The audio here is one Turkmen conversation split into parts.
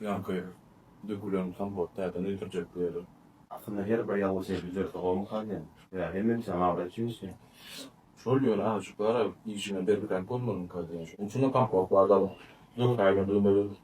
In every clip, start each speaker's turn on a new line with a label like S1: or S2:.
S1: Ýaňky dökülen kompot täzeden öýdürjek diýeli. Aslynda her bir ýaly şeýle düzelse bolmasa diýen. Ýa hemme işe maýa üçinmi? Şol ýöne agajyklara işine bergiräk bolmalyňka diýen. Şonuň üçin-de kompot bar zalym. Döküläýmeli dymyz.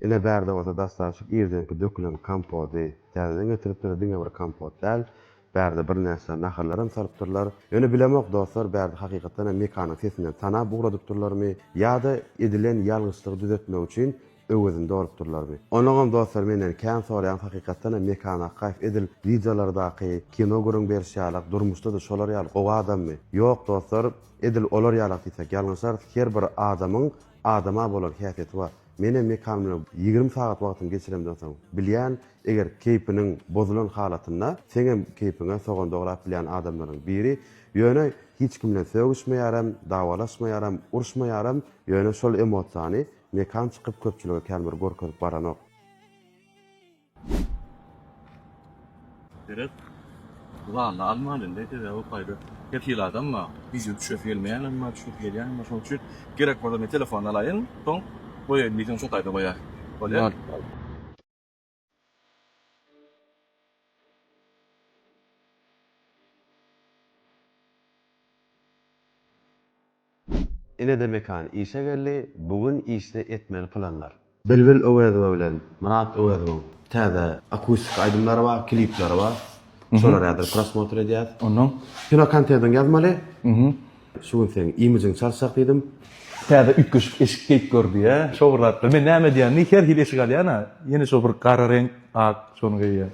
S1: Ine, bärde bolsa dastançyk irdenki dökülen kompody täzeden getiripdir, diňe bir kompot däl, bärde birnäçe nahyrlaram salypdyrlar. Ýöne bilemok, dostlar, bärde hakykatdanam Mekanyň sesinden tanap ugradypdyrlarmy ýa-da edilen ýalňyşlygy düzetmek üçin Öwezinde olup durlarmy? Onuňam dostlar menden kän soraýan hakykatdanam Mekan Akgaýew edil wideolardaky kino gürrüň beriş ýalak durmuşdada şolar ýaly gowy adammy? Ýok dostlar edil olar ýalak diýsek ýalňyşarys her bir adamyň adama bolan häsiýeti bar. Menem Mekan bilen ýigrimi sagat wagtymy geçiremden soň bilýän eger keýpiniň bozulan halatynda seňem keýpiňe sogan dograp bilýän adamlaryň biri ýöne hiç kim bilen sögüşmeýärem dawalaşmaýaram uruşmaýaram ýöne şol emosiýany Mekan çykyp köpçülige kän bir görkezip baranok. Seret Zanda alman indi sebäbi gaýry kefil adam bar wideo düşüresi gelmeýänem bar düşüresi gelýänem bar şoň üçin gerek bolsa men telefony alaýyn soň goýaýyn diýseň şo taýda goýaý bolýa. Inede Mekan işe geldi, bu gün işde etmeli planlar. Bilbil Öwezowa bilen Myrat Öwezowyň täze akustik aýdymlary bar, klipleri bar. Şolar häzir prosmotr edýäs. Ondan kino kontentyny ýazmaly. Şu gün seň imijini çalşak diýdim. Täze üýtgeşik eşik geýip gör diýýä. Şo bir zatlar. Men näme edýän diý, her hili eşik alýan-a. Ýene şo bir gara reňk, ak şony geýýän.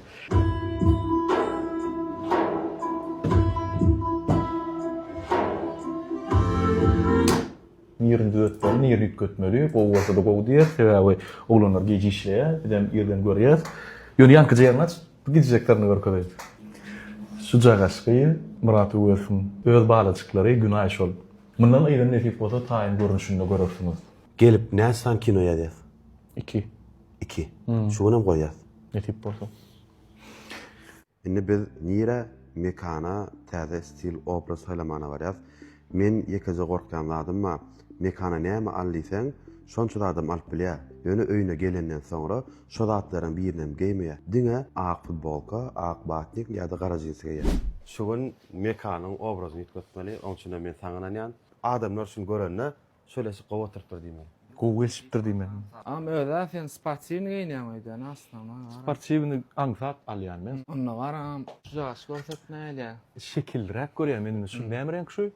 S1: Nirini düzetmeli, nirini üýtgetmeli. Gowy bolsa-da gowy diýýäs. Sebäbi oglanlar gije işleýär. Bizem irden görýäs. Ýöne ýankyja ýerni aç. Bu gijjeklerini görkezeýdi. Şujak aşygy Myrat Öwezowyň öz balajyklary Günaý şol. Mundan yza nesip bolsa taýyn görnüşinde görersiňiz. Gelip näçe sany kino ýazýas? Iki. Iki. Şu günem goýýas. Nesip bolsa. Indi biz nirä, mekana, täze stil, obraz saýlamana barýas. Men ýekeje gorkýan zadym bar. Mekana näme al diýseň, şonça zadam alyp bilýä. Ýöne öýüne gelenden soňra şo zatlaryň birinem geýmeýä. Diňe ak futbolka, ak batnik ýa-da gara jinsi geýýä. Şu gün Mekanyň obrazyny üýtgetmeli, oň üçinem men saňa ynanýan. Adamlar şuny görende, Şöleşik gowy oturypdyr diýme. Gowy gelişipdir diýme. Agam özä sen sportiwny geýinýäň öýdä nasna ony agam. Sportiwny aňsat alýan men. Onda gara agam şu jaş görsetme elä. Şekilliräk görýän men indi şuny näme reňk şu.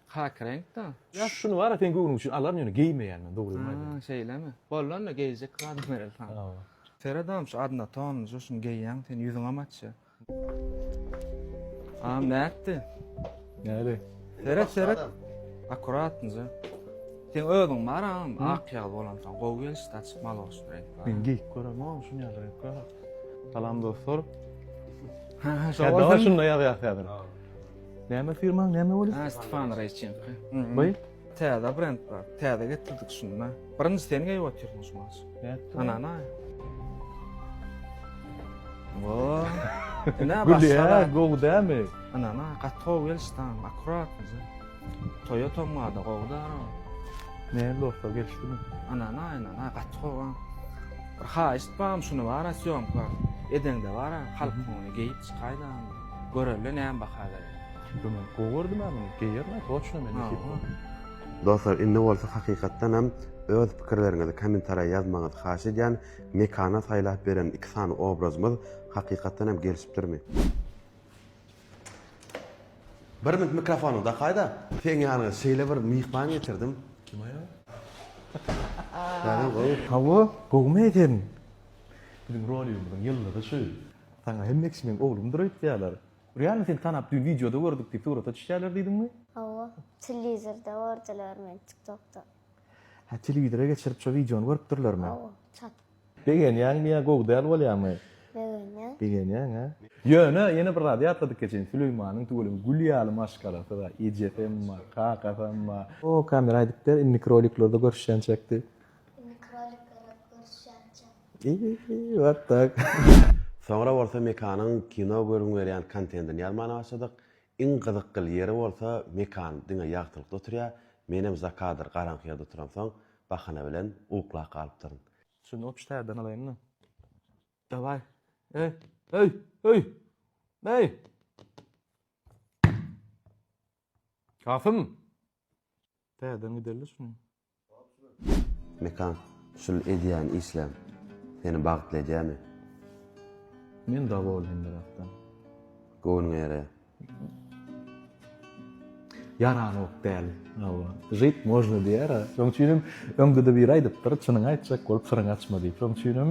S1: Kaki reňk da. Şuny bara seň göwnüň üçin alaryn ýöne geýmeýän men dogrymy aýdaýyn. Ha şeýlemi. Boldy onda geýjek zadym bereli saňa. Seret agam şu adnotonly şu şuny geýýäň sen ýüzüňem açýa. Am nätdi? Näli? Seret seret. Akkuratnja. Sen özüň bar am, ak ýag bolan soň gowy gelişdi açyk mal olsun reňk bar. Men geýip görem am şuny ýaly reňk bar. Salam dostlar. Ha ha Şa dawa şunda ýazýar häzir. Näme firmaň näme bolýar? Ha Stefan Reýçenko. Baý. Täze brend bar. Täze getirdik şunda. Birinji sen geýip otyrsyň şu maş. Anana. Wo. Ina başga. Gowy dämi? Anana, gaty gowy gelişdi. Akkurat. Toýa tomada gowy da. Ne dostlar gelişdimi? Anana, anana, gaty gowy. Bir haýyşt barm şuny bara syýomka. Edeňde bara halk ony geýip çykaýda. Görelle näme baha berýär. Şunda men gowy gördüm-ä muny, geýerin-ä toçna men nesip bolsa. Dostlar indi bolsa hakykatdan hem öz pikirleriňizi kommentariýa ýazmagyňyzy haýyş edýän, Mekana saýlap beren iki sany obrazymyz hakykatdan hem gelişipdirmi? Bir minut mikrofonyňy dakaýda. Seň ýanyňa şeýle bir myhman getirdim. Kim aýal? Täzem gowy. Hawa, gowumy eken? Biziň rolýumyzyň ýyldyzy şu. Saňa hem Meksimeň oglumdyr öýtýärler. Realno seni tanap düýn wideoda gördük diýip surata düşýärler diýdiňmi? Hawa, telewizorda gördiler meni tiktokda. Hä telewizora geçirip şo wideony görüpdirlermi? Hawa, çatyp. Begenýäňmi ýa gowy däl bolýamy? Begenýän. Begenýäň hä? Ýöne ýene bir zady ýatladyk geçen Süleýmanyň tüweleme gül ýaly maşgalasy bar ejesem bar kakasam bar. O kamera aýdyp ber, inniki roliklerde görüşýänçäk diýip. Inniki roliklerde görüşýänçäk. What the? Soňra bolsa Mekanyň kino görgüň berýän kontentini ýazmana başladyk. Iň gyzykgl ýeri bolsa Mekan diňe ýagtylykda oturýa, menem za kadr garaňky ýerde oturamsoň bahana bilen uklap galypdyryn. Şuny otuz tärden alaýynmy? Daway. Eý, eý, eý! Eý! Kasym! Tärden giderli şuny. Mekan, şul edýän işleň seni bagtly edýämi? Men dowolnyň bu zatdan. Göwnüňe ýaraýar. Ýaranok däl. Hawa. Žit można diýýär-ä. Şoň üçin hem öňde-de biri aýdypdyr, Çynyňy aýtjak bolup syryňy açma diýip. Şoň üçin hem